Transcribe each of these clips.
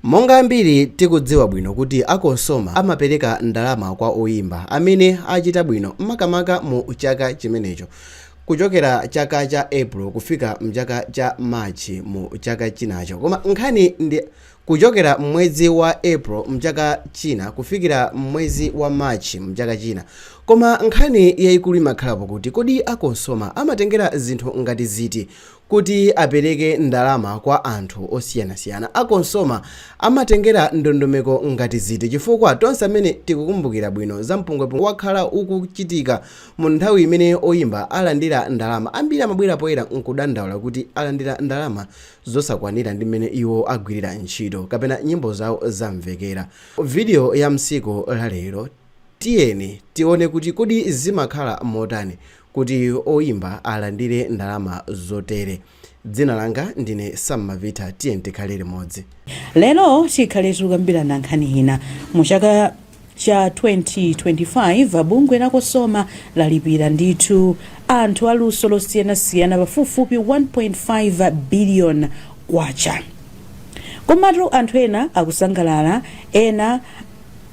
Monga ambiri tikudziwa bwino kuti a Cosoma amapereka ndalama kwa oyimba amene achita bwino makamaka mu chaka chimenecho kuchokera chaka cha April kufika mchaka cha March mu chaka chinacho koma nkhani ndi kuchokera mmwezi wa April mchaka china kufikira mmwezi wa March mchaka china koma nkhani yaikulu imakhalapo kuti kodi a Cosoma amatengera zinthu ngati ziti kuti apereke ndalama kwa anthu osiyanasiyana. A Cosoma amatengera ndondomeko ngati ziti chifukwa tonse amene tikukumbukira bwino za mpungwepungwe wakhala ukuchitika mu nthawi imene oyimba alandira ndalama, ambiri amabwera poyera nkudandaula kuti alandira ndalama zosakwanira ndi mmene iwo agwirira ntchito kapena nyimbo zawo zamvekera. Video ya msiku la lero. Tiyeni tione kuti kodi zimakhala motani kuti oyimba alandire ndalama zotere. Dzina langa ndine Sam Malvitha tiyeni tikhale limodzi. Lero tikhale tikukambirana nkhani ina. Mu chaka cha 2025 bungwe la Cosoma lalipira ndithu anthu a luso losiyanasiyana pafupifupi 1.5 billion kwacha. Komatu anthu ena akusangalala ena.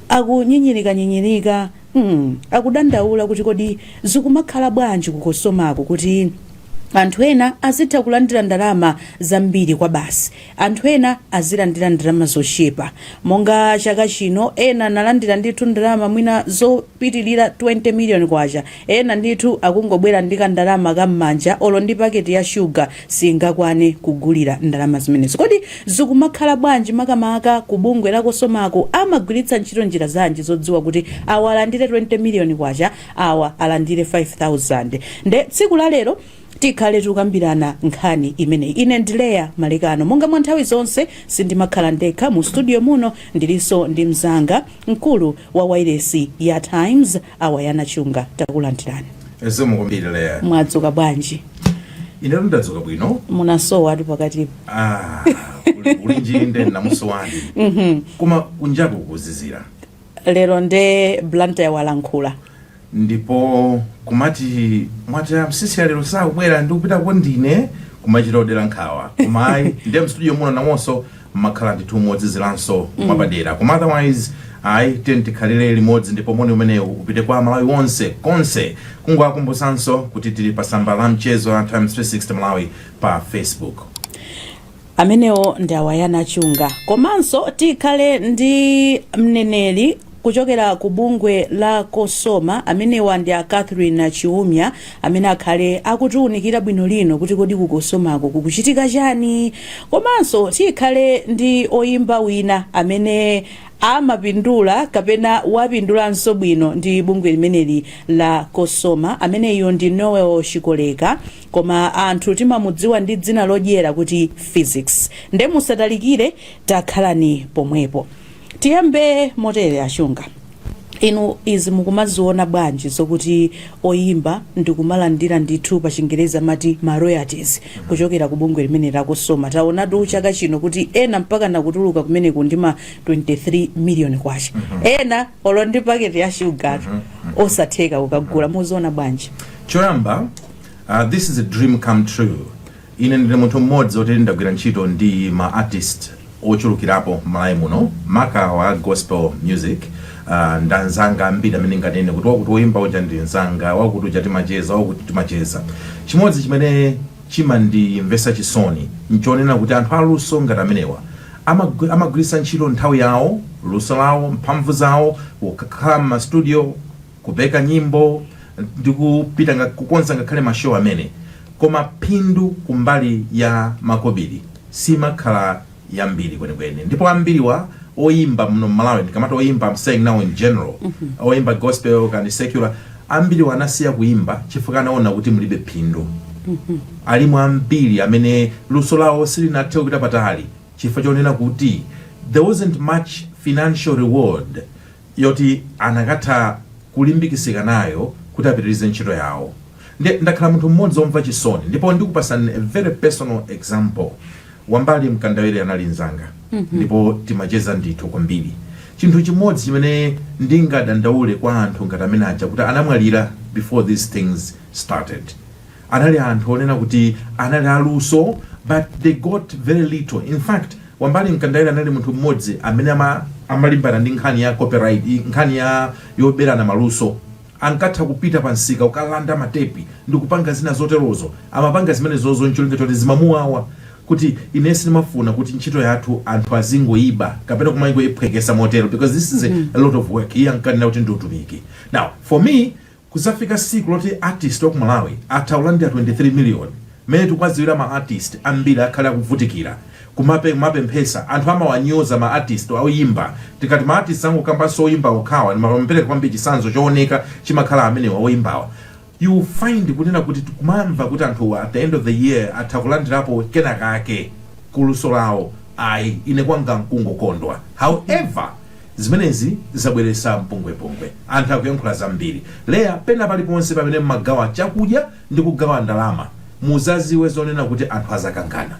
Akunyinyirikanyinyirika, mm, akudandaula kuti kodi zikumakhala bwanji ku Cosomako kuti anthu ena azitha kulandira ndalama zambiri kwabasi, anthu ena azilandira ndalama zochepa. Monga chaka chino ena analandira ndithu ndalama mwina zopitirira K20 miliyoni, Ena ndithu akungobwera ndi ka ndalama ka mmanja olo ndi packet ya sugar siingakwane kugulira ndalama zimenezo. Kodi zikumakhala bwanji makamaka ku bungwe la Cosomako amagwiritsa ntchito njira zanji zodziwa kuti awa alandire 20 million kwacha awa alandire 5000. Nde tsiku la lero tikhale tikukambirana nkhani imeneyi. Ine ndi Leah Malekano monga mwa nthawi zonse sindimakhala ndekha mu studio muno ndilinso ndi mzanga mkulu wa wailesi ya Times awayana chunga takulandirani zikomo kwambiri Leah mwadzuka bwanji inetu ndadzuka bwino munasowatu pakatipo Ah, uli- ulinji nde namuso wandi koma kunjaku kuzizira lero nde blantyre walankhula ndipo kumati mwati a Msiska lero sakubwera ndikupitako ndine kumachita odera nkhawa koma ayi ndiye mstudio muno namonso mmakhala ndithu mozizilanso mwapadera koma otherwise ayi tiyeni tikhalire limodzi ndipo moni umenewu upite kwa malawi wonse konse kungowakumbusanso kuti tili pa samba la mchezo la times 360 malawi pa facebook amenewo ndi awayana chunga komanso tikhale ndi mneneri Kuchokera ku bungwe la Cosoma, amenewa ndi a Catherine Chiumia amene akhale akutiunikira bwino lino kuti kodi ku Cosomako kukuchitika chani? Komanso tikhale ndi oyimba wina amene amapindula kapena wapindulanso bwino ndi bungwe limeneli la Cosoma, ameneyo ndi Noel Chikoleka koma anthu timamudziwa ndi dzina lodyera kuti Phyzix. Nde musatalikire takhalani pomwepo. Tiyambe motere a Chunga, inu izi mukumaziona bwanji zokuti oyimba ndikumalandira ndithu pa chingerezi amati ma royalties kuchokera ku bungwe limeneli la Cosoma? Taonatu chaka chino kuti ena mpakana kutuluka kumeneko ndi ma 23 million kwacha, ena olo ndi paketi ya shugatu osatheka kukagula. Muziona bwanji? choyamba uh, this is a dream come true Ine ndine munthu mmodzi oti ndagwira ntchito ndi ma artist ochulukirapo Malawi muno maka wa gospel music ndili ndi anzanga ambiri amene ndinganene kuti wakuti woyimba uja ndi nzanga, wakuti uja timacheza, wakuti timacheza. Chimodzi chimene chimandimvetsa chisoni nchonena kuti anthu aluso ngati amenewa amagwiritsa ntchito nthawi yawo, luso lawo, mphamvu zawo kukhala mma studio, kupeka nyimbo ndi kupita nga- kukonza ngakhale ma show amene koma phindu kumbali ya makobiri simakhala yambiri kwenikweni ndipo ambiriwa oyimba muno mmalawi ndikamati oyimba I'm saying now in general oyimba gospel kaya ndi secular ambiriwa anasiya kuyimba chifukwa anaona kuti mulibe phindu alimo ambiri amene luso lawo silinathe kupita patali chifukwa chonena kuti there wasn't much financial reward yoti akanatha kulimbikisika nayo kuti apitilize ntchito yawo nde ndakhala munthu mmodzi omva chisoni ndipo ndikupasani a very personal example wambali mkandawire anali nzanga ndipo timacheza ndithu kwambiri chinthu chimodzi chimene ndingadandaule kwa anthu ngati amene aja kuti anamwalira before these things started anali anthu onena kuti anali a luso but they got very little, in fact Wambali Mkandawire anali munthu mmodzi amene ama amalimbana ndi nkhani ya copyright, nkhani ya yoberana maluso, ankatha kupita pa msika kukalanda matepi ndi kupanga zina zoterozo, amapanga zimene zozo n'cholinga choti zimamuwawa kuti ine sindimafuna kuti ntchito yathu anthu azingoyiba kapena kumangoyiphwekesa motero because this is a lot of work, iye ankanena kuti ndi utumiki. Now for me. Kuzafika siku loti artist waku Malawi atha kulandira 23 million mmene tikuwaziwira ma artist ambiri akhale akuvutikira kumape kumapemphesa anthu amawanyoza ma artist oyimba tikati ma artist sindikukambanso oyimba okhawa koma amapereka kwambiri chisanzo chowoneka chimakhala amenewa oyimbawa you will find kunena kuti tikumamva kuti anthuwa at the end of the year atha kulandirapo kenakake kuluso lawo ayi ine kwanga nkungokondwa however Zimenezi zabweretsa mpungwepungwe. Anthu akuyankhula zambiri. Leah, pena paliponse pamene mmagawa chakudya ndi kugawa ndalama muzaziwe zonena kuti anthu azakangana.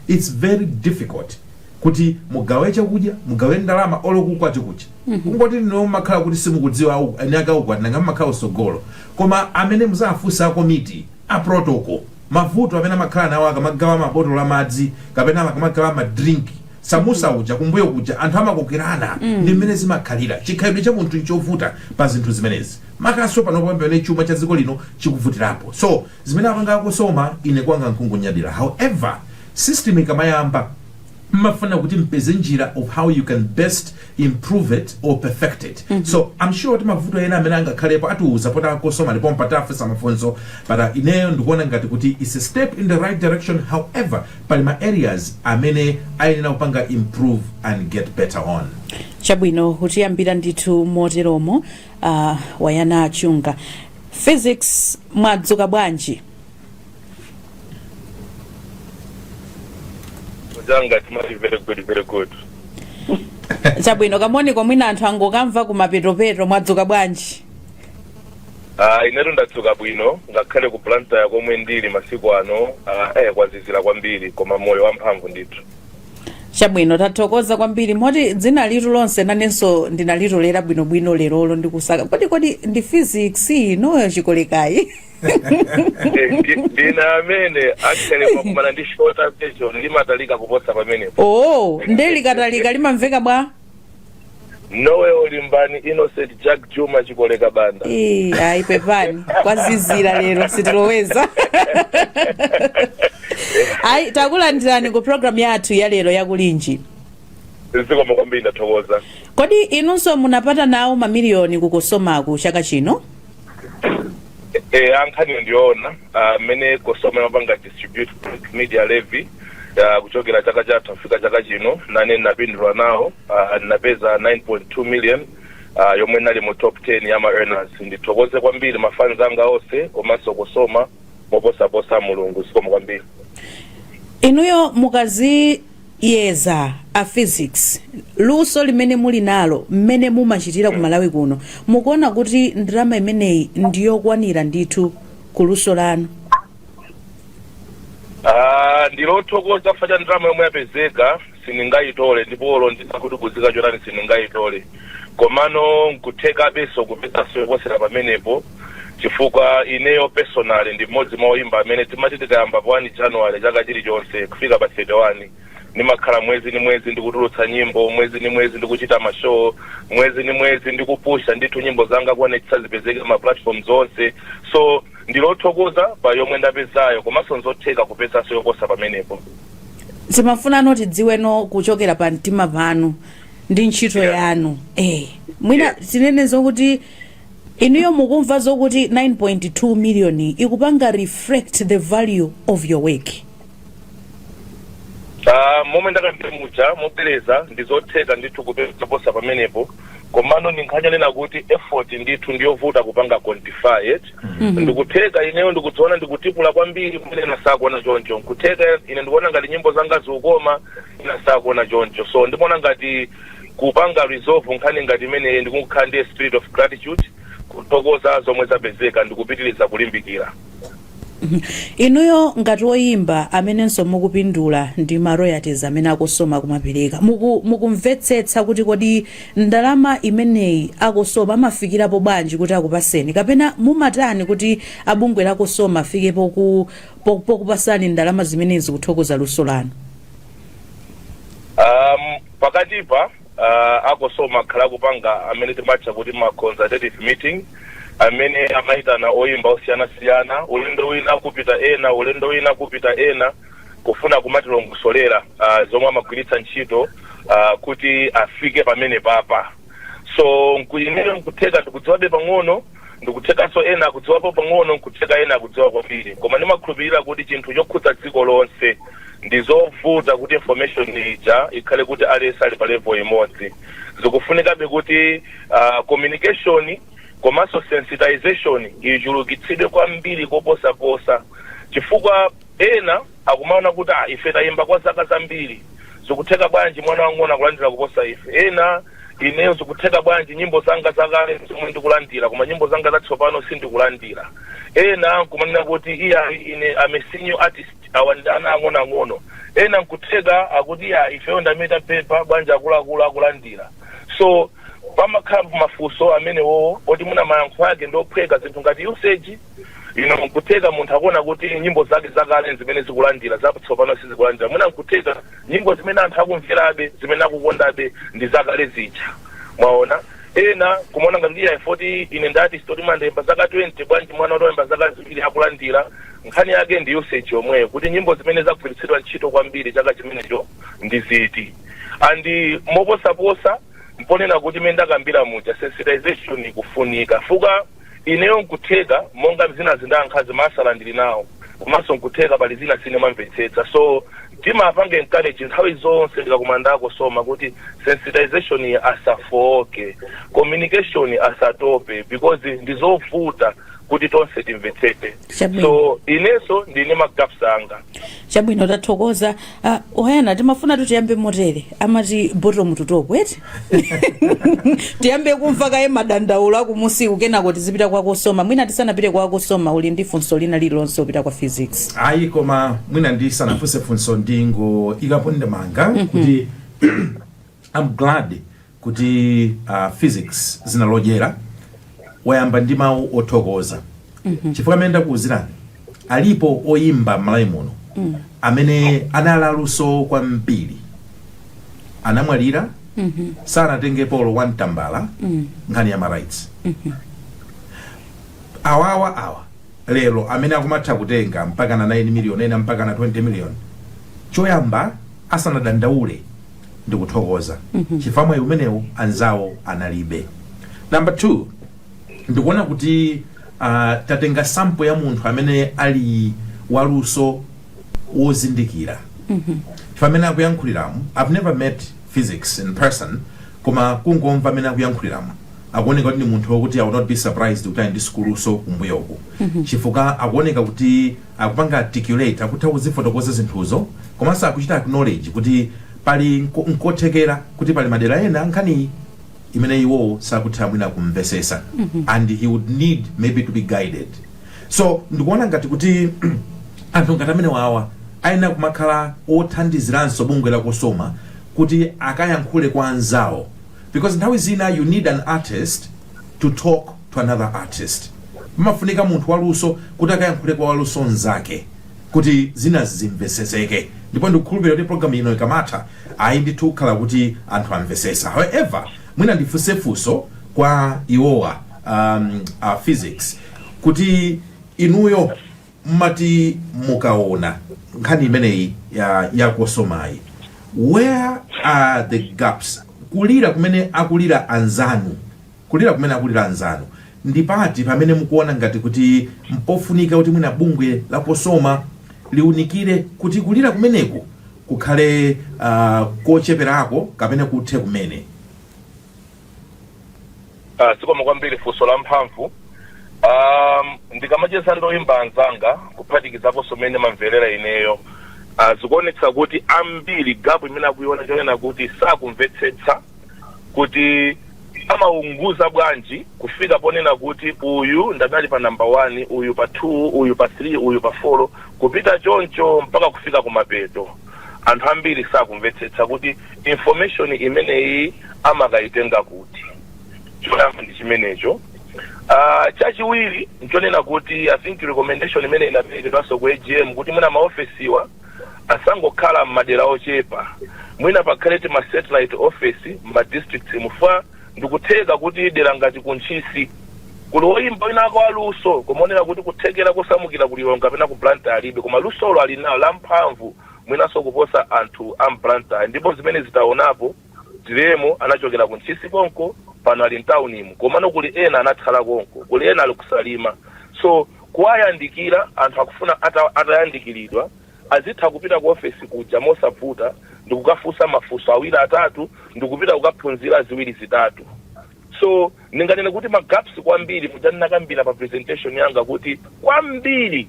Its very difficult kuti mugawe chakudya, mugawe ndalama olo kuukwati kuja. Kungoti inu nomwe mmakhala kuti simukudziwa au- eniake ukwati nanga mmakhala kusogolo. Koma amene muzafunse a komiti, a protocol. Mavuto amene amakhala nawo akamagawa ma botolo a madzi kapena akamagawa ma drink, samusa uja kumbuyo kuja anthu amakokerana ndi mmene zimakhalira. Chikhalidwe cha munthu nchovuta pa zinthu zimenezi makanso pano pamene chuma cha dziko lino chikuvutirapo. So zimene apanga a Cosoma ine kwanga nkungonyadira. However, system ikamayamba mmafuna kuti mpeze njira of how you can best improve it or perfect it so i'm sure kuti mavuto ena amene angakhalepo atiuza poti a Cosoma ndipo mpatafunsa mafunso but uh, ineyo ndikuona ngati kuti it's a step in the right direction however pali ma areas amene ayenera kupanga improve and get better on chabwino kutiyambila ndithu moteromo uh, wayana achunga physics mwadzuka bwanji Mzanga timati very good very good. chabwino kamoniko mwina anthu angokamva kumapetopeto mwadzuka bwanji Ah inetu ndadzuka bwino ngakhale ku Blantyre komwe ndili masiku ano ah, eh kwazizira kwambiri koma moyo wamphamvu ndithu. chabwino tathokoza kwambiri moti dzina lithu lonse nanenso ndinalitolera bwinobwino lerolo ndikusaka kodi kodi ndi physics inuyo chikolekayi dzina limene actually mwakumana ndi shorter version limatalika kuposa pamenepo oo nde likatalika limamveka bwa nowe olimbani innocent jack juma chikoleka banda Eh, ayi pepani kwazizira lero sitiloweza ayi takulandirani ku programu yathu ya lero yakulinji zikomo kwambiri ndathokoza kodi inunso munapata nawo mamiliyoni ku Cosomaku chaka chino e, a nkhaniyo ndiyoona mmene uh, Cosoma imapanga distribute print media levy uh, kuchokera chaka chatha kufika chaka chino nane ndinapindula nawo uh, ndinapeza 9.2 million uh, yomwe ndinali mu top 10 ya ma earners ndithokoze kwambiri mafans anga onse komanso Cosoma moposaposa mulungu zikomo kwambiri inuyo mukadzi yeza a physics luso limene muli nalo mmene mumachitira ku malawi kuno mukuona kuti ndalama imeneyi ndiyokwanira ndithu ku luso lanu Ah, ndili othokoza chifukwa cha ndalama yomwe yapezeka sindingayitole ndipo olo ndisakhutitsike chotani sindingayitole komano nkuthekabenso kupezanso yoposera pamenepo chifukwa ineyo personally ndi mmodzi mwa oyimba amene timati tikayamba pa 1 january chaka chilichonse kufika pa 31 ndimakhala mwezi ni mwezi ndikutulutsa nyimbo mwezi ni mwezi ndikuchita mashow mwezi ni mwezi ndikupusha ndithu nyimbo zanga kuonetsa zipezeke ma platform zonse so ndilothokoza pa yomwe ndapezayo komanso nzotheka kupezanso yoposa pamenepo timafunano tidziweno kuchokera pa mtima panu ndi ntchito Yeah. yanu eh mwina Yeah. tinene zokuti inuyo mukumva zokuti 9.2 million ikupanga reflect the value of your work Ah, momwe ndakambira muja mobwereza ndizotheka ndithu kupeza yoposa pamenepo komano ndi nkhani yonena kuti effort ndithu ndiyovuta kupanga quantify ndikutheka ineyo ndikudziona ndikutipula kwambiri pomwe ena sakuona choncho nkutheka ine ndikuona ngati nyimbo zanga zikukoma ena sakuona choncho so ndimaona ngati kupanga resolve nkhani ngati imeneyi ndikukhala ndi a spirit of gratitude kuthokoza zomwe zapezeka ndikupitiriza kulimbikira inuyo ngati woyimba amenenso mukupindula ndi ma royalties amene a Cosoma akumapereka Muku- mukumvetsetsa kuti kodi ndalama imeneyi a Cosoma amafikirapo bwanji kuti akupaseni kapena mumatani kuti a bungwe la Cosoma afike poku- po- pokupasani ndalama zimenezi kuthokoza luso lanu um, pakatipa uh, a Cosoma akhala akupanga amene timatcha kuti ma consultative meeting amene amayitana oyimba osiyanasiyana ulendo wina kupita ena ulendo wina kupita ena kufuna kumatilongosolera uh, zomwe amagwiritsa ntchito uh, kuti afike pameneapa so kwa ineyo nkutheka ndikudziwabe pang'ono Ndikuthekanso ena akudziwapo pang'ono nkutheka ena akudziwa kwambiri koma ndimakhulupilira kuti chinthu chokhudza dziko lonse ndizovuta kuti information ija ikhale kuti aliyense ali pa level imodzi zikufunikabe kuti communication komanso sensitization ichulukitsidwe kwambiri koposaposa chifukwa Ena akumaona kuti, Ah, ife tayimba kwa zaka zambiri, zikutheka bwanji mwana wamng'ono akulandira kuposa ife? Ena, Ineyo zikutheka bwanji, nyimbo zanga zakale zomwe ndikulandira, koma nyimbo zanga zatsopano sindikulandira? Ena nkumanena kuti, Iyayi, ine am a senior artist, awa ndi ana ang'onoang'ono. Ena nkutheka akuti, Iyayi, ifeyo ndi amene tapepha, bwanji akuluakulu akulandira? So, pamakhalabe mafunso amenewowo oti mwina mayankho ake ndi ophweka, zinthu ngati usage, You know, nkutheka munthu akuona kuti nyimbo zake zakale zimene zikulandira zatsopano sizikulandira mwina nkutheka nyimbo zimene anthu akumverabe zimene akukondabe ndi zakale zija mwaona ena kumaona ngati kuti ayi poti ine ndi artist oti ndayimba zaka 20 bwanji mwana oti wayimba zaka ziwiri akulandira nkhani yake ndi usage yomweyo kuti nyimbo zimene zagwiritsidwa ntchito kwambiri chaka chimenecho ndi ziti and moposaposa mponena kuti mene ndakambira muja sensitization ikufunika chifukwa Ineyo nkutheka monga zinazi ndayankhazi maansala ndili nawo komanso nkutheka pali zina sindimamvetsetsa so timawapanga encourage nthawi zonse tikakumana ndi a Cosoma kuti sensitization iyi asafooke communication asatope because ndizovuta kuti tonse timvetsetse. chabwino so ineso ndili ndi magaps anga chabwino tathokoza Ah, oyana timafunatu tiyambe motere amati bottom to top eti tiyambe kumva kaye madandaulo akumusiku kenako tizipita kwa Cosoma mwina tisanapite kwa Cosoma uli ndi funso lina lililonse lopita kwa Phyzix ayi koma mwina ndisanafunse funso ndingoikapo ndemanga kuti i'm glad kuti a Phyzix dzina lodyera wayamba ndi mawu othokoza chifukwa mmene ndakuuzirani alipo oyimba m'Malawi muno amene anali aluso kwambiri anamwalira sanatengepo olo one tambala nkhani ya marights awawa awa lero amene akumatha kutenga mpaka na 9 million ena mpaka na 20 million choyamba asanadandaule ndikuthokoza chifukwa mwayi umenewu anzawo analibe number 2 ndikuona kuti uh, tatenga sample ya munthu amene ali waluso wozindikira chifukwa mmene akuyankhuliramu i've never met Phyzix in person koma kungomva mmene akuyankhuliramu akuoneka kuti ndi munthu wokuti i will not be surprised kuti ali ndi sukuluso kumbuyoku chifukwa akuoneka kuti akupanga articulate, akutha kuzifotokoza zinthuzo komanso akuchita acknowledge kuti pali nko, nkothekera kuti pali madera ena nkhaniyi imene iwowo sakutha mwina kumvesesa and he would need maybe to be guided so ndikuona ngati kuti anthu ngati amenewawa ayenera kumakhala othandiziranso bungwe la Cosoma kuti akayankhule kwa anzawo because nthawi zina you need an artist to talk to another artist. Pamafunika munthu waluso kuti akayankhule kwa waluso nzake kuti zina zimveseseke ndipo ndikukhulupirira kuti program ino ikamatha ayi ndithu kukhala kuti anthu amvesesa however mwina ndifunse funso kwa iwowa um, uh, Phyzix kuti inuyo mmati mukaona nkhani imeneyi ya, ya Cosomayi where are the gaps kulira kumene akulira anzanu Kulira kumene akulira anzanu, ndi pati pamene mukuona ngati kuti mpofunika kuti mwina bungwe la Cosoma liunikire kuti kulira kumeneku kukhale kocheperako kapena kuthe kumene? Zikomo kwambiri funso la mphamvu. Ndikamacheza ndi oyimba anzanga kuphatikizaponso mmene ndimamverera ineyo, zikuonetsa kuti ambiri gap imene akuiona nchonena kuti sakumvetsetsa, kuti amawonkhetsa bwanji kufika ponena kuti uyu ndi adali pa namba 1 uyu pa 2 uyu pa 3 uyu pa 4 kupita choncho mpaka kufika kumapeto anthu ambiri sakumvetsetsa kuti information imeneyi amakayitenga kuti choyamba ndi chimenecho uh, chachiwiri nchonena kuti i think recommendation imene inaperekedwanso ku agm kuti mwina maofesiwa asangokhala m'madera ochepa. Mwina pakhale ti ma satellite office m'ma districts mu fwa ndikutheka kuti dera ngati ku Ntchisi kuli woyimba winawake wa luso kumaona kuti kuthekera kosamukira ku Lilongwe kapena ku Blantyre alibe koma lusolo ali nalo lamphamvu mwinanso kuposa anthu a m'Blantyre ndipo zimenezi taonapo Driemo anachokera ku ntchisi konko pano ali m'taunimu komano kuli ena anatsala konko kuli ena ali ku salima so kuwayandikira anthu akufuna atayandikiridwa azitha kupita ku ofesi kuja mosavuta ndikukafunsa mafunso awiri atatu ndikupita kukaphunzira ziwiri zitatu so ndinganene kuti ma gaps kwambiri muja ndinakambira pa presentation yanga kuti kwambiri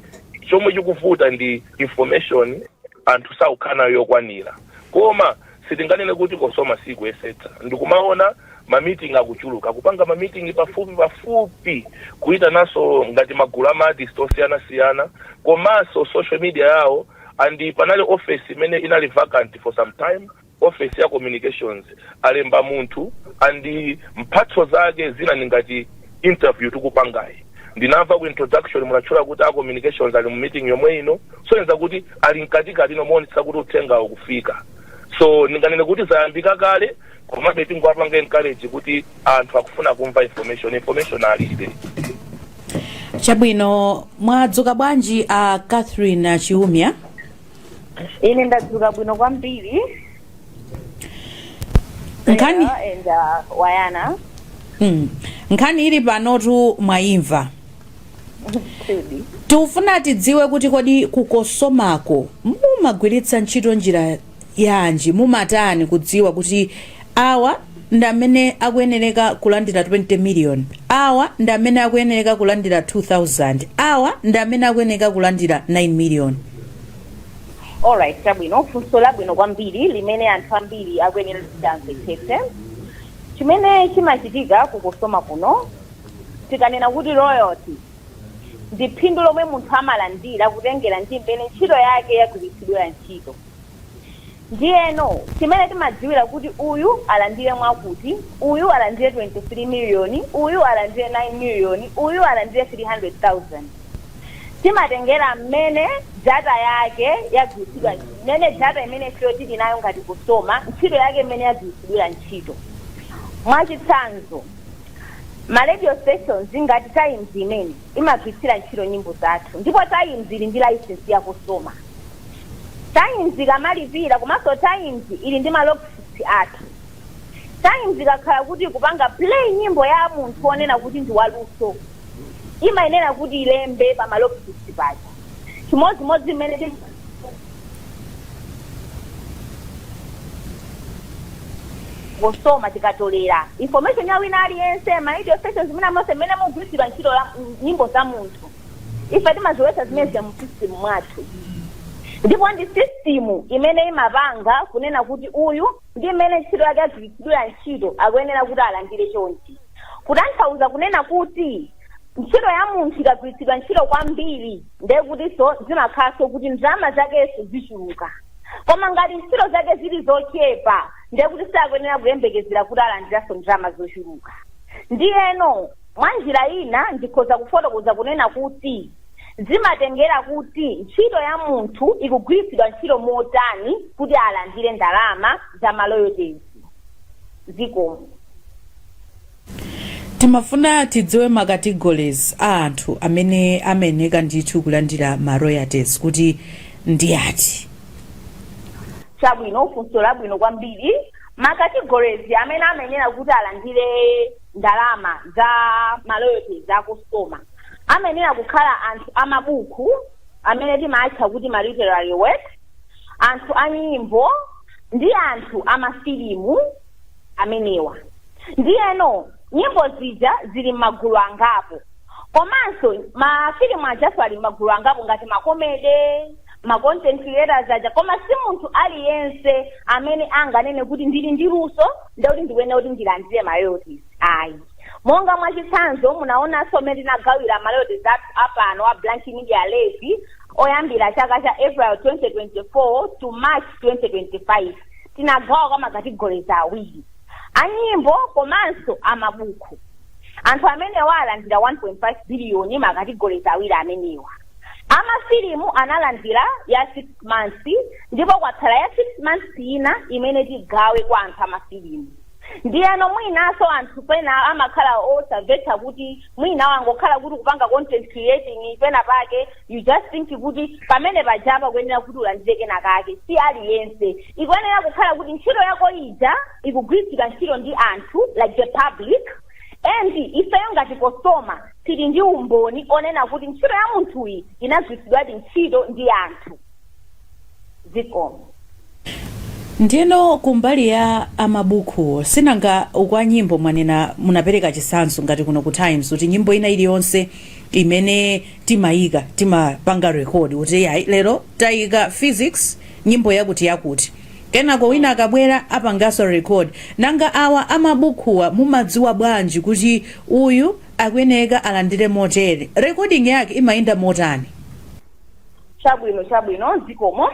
chomwe chikuvuta ndi information anthu sakukhala nayo yokwanira koma sitinganene kuti Cosoma sikuyesetsa ndikumaona ma meeting akuchuluka, kupanga ma meeting pafupi pafupi kuitananso ngati magulu ama artist osiyanasiyana komanso social media yawo and panali office imene inali vacant for some time Ofesi ya communications alemba munthu and mphatso zake zina ndi ngati interview tikupangayi ndinamva ku introduction munatchula kuti a communications ali mu meeting yomwe ino kusonyeza kuti ali mkatikati mowonetsetsa kuti uthengawo ukufika so ndinganene kuti zayambika kale komabe tingowapanga encourage kuti anthu akufuna kumva information information alibe Chabwino, mwadzuka bwanji a Catherine Chiumia? ine ndadzuka bwino kwambiri kaya a Wayana, nkhani ili panotu mwayimva. tikufuna tidziwe kuti kodi ku Cosomako mumagwiritsa ntchito njira yanji mumatani kudziwa kuti awa ndi amene akuyenereka kulandira 20 million, awa ndi amene akuyenereka kulandira 2,000, awa ndi amene akuyenereka kulandira 9 million. Alright, chabwino. Funso labwino kwambiri limene anthu ambiri akuyenera kuti amvetsetse. Chimene chimachitika ku Cosoma kuno, tikanena kuti royalty ndi phindu lomwe munthu amalandira kutengera ndi mmene ntchito yake yagwiritsidwira ntchito. Ndiyeno chimene timadziwira kuti uyu alandire mwakuti, uyu alandire 23 miliyoni, uyu alandire 9 miliyoni, uyu alandire 300,000, timatengera mmene data yake yagwiritsidwa, mmene data imene ifeyo tili nayo ngati Cosoma, ntchito yake mmene yagwiritsidwira ntchito. Mwachitsanzo, ma radio stations ngati Times imene, imagwiritsira ntchito nyimbo zathu ndipo Times ili ndi licence ya Cosoma. Times ikamalipira komanso Times ili ndi ma logsheets athu. Times ikakhala kuti ikupanga play nyimbo ya munthu wonena kuti ndi waluso, imayenera kuti ilembe pa ma logsheets paja. Chimodzimodzi mmene Cosoma tikatolera information ya wina aliyense ma radio stations zimene monse mmene mugwiritsidwa ntchito nyimbo za munthu. ife timazilowetsa zimenezo mu system mwathu ndipo ndi system imene imapanga kunena kuti uyu ndi mmene ntchito yake yagwiritsidwira ntchito akuyenera kuti alandire chonchi kutanthauza kunena kuti ntchito ya munthu ikagwiritsidwa ntchito kwambiri ndiye kutinso zimakhalanso kuti ndalama zakenso zichuluka koma ngati ntchito zake zili zochepa ndiye kuti sakuyenera kuyembekezera kuti alandiranso ndalama zochuluka ndiyeno Mwa njira ina ndikhoza kufotokoza kunena kuti zimatengera kuti ntchito ya munthu ikugwiritsidwa ntchito motani kuti alandire ndalama za ma royalties. Zikomo. Timafuna tidziwe ma categories a anthu amene amayeneka ndithu kulandira ma royalties kuti ndi ati. Chabwino, funso labwino kwambiri. Ma categories amene amayenera kuti alandire ndalama za ma royalties a Cosoma amayenera kukhala anthu amabuku amene timatcha kuti ma literary works anthu a nyimbo ndi anthu amafilimu amenewa ndiyeno nyimbo zija zili m'magulu angapo komanso mafilimu ajaso ali m'magulu angapo ngati makomede macontent creators aja koma si munthu aliyense amene anganene kuti ndili ndi luso ndiye kuti ndikuyenera kuti ndilandire ma royalties ayi monga mwachitsanzo munaonanso mmene tinagawira ma royalties athu apano a blank media levy oyambira chaka cha april 2024 to march 2025 tinagawa kwa makategorizi awiri anyimbo komanso amabuku anthu amenewa alandira 1.5 biliyoni makategorizi awiri amenewa A mafilimu analandila ya 6 months ndipo kwatsala ya 6 months ina imene tigawe kwa anthu a mafilimu. Ndiyeno mwinanso anthu pena amakhala osamvetsa kuti mwina wangokhala kuti kupanga content creating pena pake you just think kuti pamene pajapa kuyenera kuti ulandire kena kake si aliyense. Ikuyenera kukhala kuti ntchito yako ija ikugwiritsidwa ntchito ndi anthu like the public and ifeyo ngati Cosoma tili ndi umboni onena kuti ntchito ya munthuyi inagwiritsidwadi ntchito ndi anthu zikomo ndiyeno kumbali ya amabukuwo sinanga uku a nyimbo mwanena munapereka chisanzo ngati kuno ku times kuti nyimbo ina iliyonse imene timayika timapanga rekodi kuti iyayi lero tayika physics nyimbo yakuti yakuti Kenako wina akabwera apanganso record. Nanga awa a mabukhuwa mumadziwa bwanji kuti uyu akuyeneka alandire motere? Recording yake imayenda motani? Chabwino, chabwino, zikomo.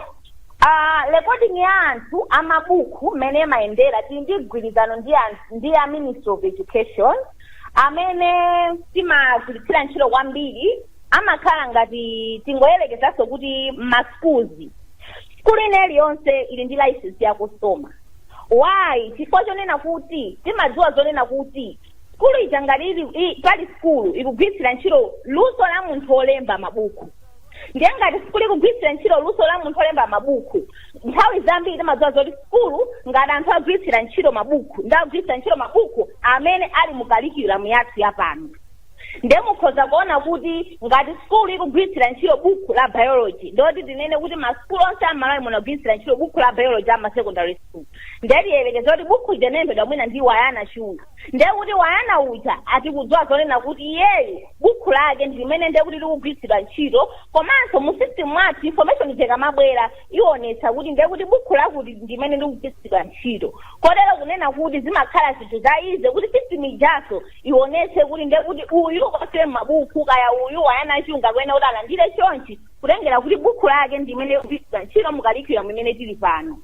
Ah, recording ya anthu a mabukhu mmene imayendera tili ndi mgwirizano ndi a Ministry of Education amene timagwiritsira ntchito kwambiri amakhala ngati tingoyerekezanso kuti ma schools sukulu ina iliyonse ili ndi license ya Cosoma why chifukwa chonena kuti timadziwa zonena kuti sukulu ija ngati ili i- pali sukulu ikugwiritsira ntchito luso la munthu wolemba mabuku ndiye ngati sukulu ikugwiritsira ntchito luso la munthu wolemba mabuku nthawi zambiri timadziwa zoti sukulu ngati anthu agwiritsira ntchito mabuku ndi agwiritsira ntchito mabuku amene ali mu curriculum yathu yapano nde mukhoza kuona kuti ngati sukulu ikugwiritsira ntchito buku la biology ndoti tinene kuti masukulu onse a m'Malawi muno agwiritsira ntchito buku la biology ama secondary school nde tiyerekeze kuti buku lija linalembedwa mwina ndi wayana chunga nde kuti wayana uja tikudziwa zonena kuti iyeyi buku lake ndi limene nde kuti likugwiritsidwa ntchito komanso mu system mwathu information ija ikamabwera ionetsa kuti nde kuti buku lakuti ndi limene likugwiritsidwa ntchito kotero kunena kuti zimakhala zinthu za easy kuti system ijaso ionetse kuti ndiye kuti uyu wosema mabuku kaya uyu wayana chunga kuyenera kuti alandire chonchi kutengera kuti buku lake ndi limene likugwiritsidwa ntchito mu curriculum imene tili pano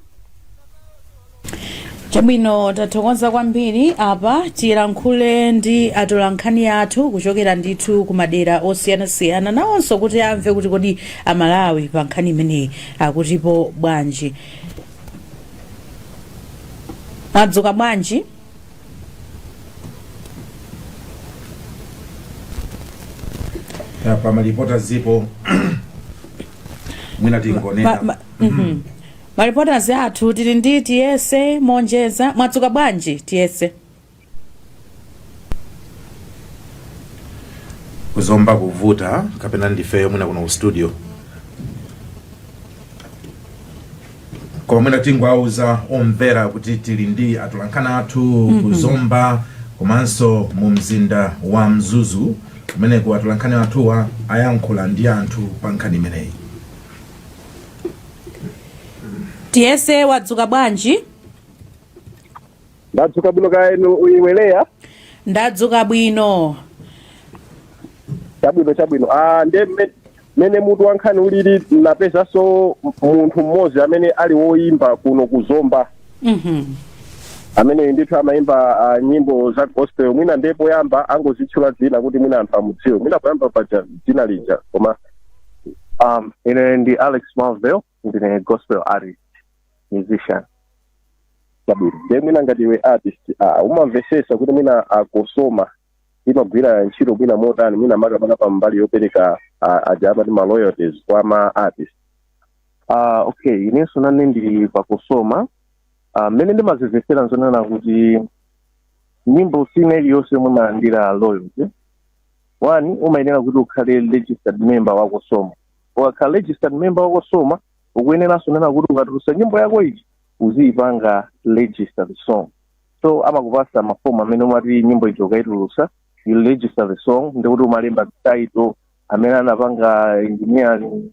chabwino tathokoza kwambiri apa tilankhule ndi atolankhani athu kuchokera ndithu ku madera osiyanasiyana nawonso kuti amve kuti kodi amalawi pa nkhani imeneyi akutipo bwanji mwadzuka bwanji Ya, pa maripota zipo mwina tingonena Ma- ma- mhm. maripota athu tili ndi tiyese monjeza mwadzuka bwanji tiyese ku zomba kuvuta kapena ndifeyo mwina kuno ku studio koma mwina tingowauza omvera kuti tili ndi atolankhani athu mm -hmm. ku zomba komanso mu mzinda wa mzuzu kumeneko atolankhani athuwa ayankhula ndi anthu pa nkhani imeneyi tiyese wadzuka bwanji ndadzuka bwino kaya inu uyiweleya ndadzuka bwino chabwino chabwino ah, nde mme- mmene mutu wa nkhani ulili napezanso munthu mmodzi amene ali woyimba kuno ku zomba Mhm. amene ndithu amayimba ah, nyimbo za gospel mwina ndiye poyamba angozitchula dzina kuti mwina anthu amudziwe mwina poyamba paja dzina lija koma um, ine ndi alex marvel ndine gospel artist musician chabwino ndiye mwina ngati iwe artist ah, umamvesesa kuti mwina cosoma imagwira ntchito mwina motani mwina makamaka pa mbali yopereka ah, aja amati ma royalties kwa ma artist Ah, okay inenso nane ndili pa cosoma Ah, mmene ndimazimvetsera nzonena kuti nyimbo ina iliyonse yomwe umalandira royalty one umayenera kuti ukhale registered member wa cosoma ukakhala registered member wa cosoma ukuyeneranso kunena kuti ukatulusa nyimbo yako ija uziyipanga registered song so amakupasa mafomu amene umati nyimbo ijo ukaitulusa you register the song ndiye kuti umalemba title amene anapanga engineering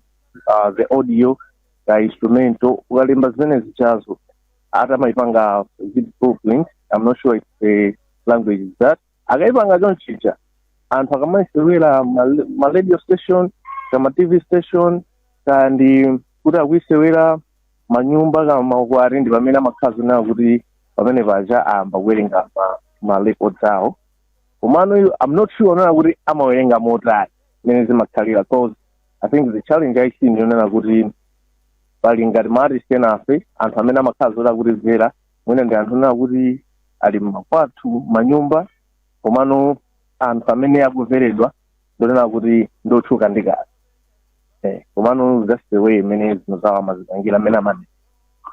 uh, the audio ka instrumental ukalemba zimene zijazo ati amaipanga blueprint i'm not sure if the language is that akaipanga chonchija anthu akamaisewera ma, ma radio station kaya ma tv station kaya ndi kuti akuisewera manyumba kaya maukwati ndi pamene amakhala zonena kuti pamene paja amayamba kuwerenga ma, ma records awo komano io- i'm not sure onena kuti amawerenga motani mmene zimakhalira cause i think the challenge I see ndi yonena kuti pali ngati ma artist enafe anthu amene amakhala zoti akutidyera mwina ndi anthu ena kuti ali mmakwathu mmanyumba komano anthu amene akuveredwa ndinena kuti ndotchuka ndi kazi eh, komano that's the way imene zinthu zawo amazipangira amene amati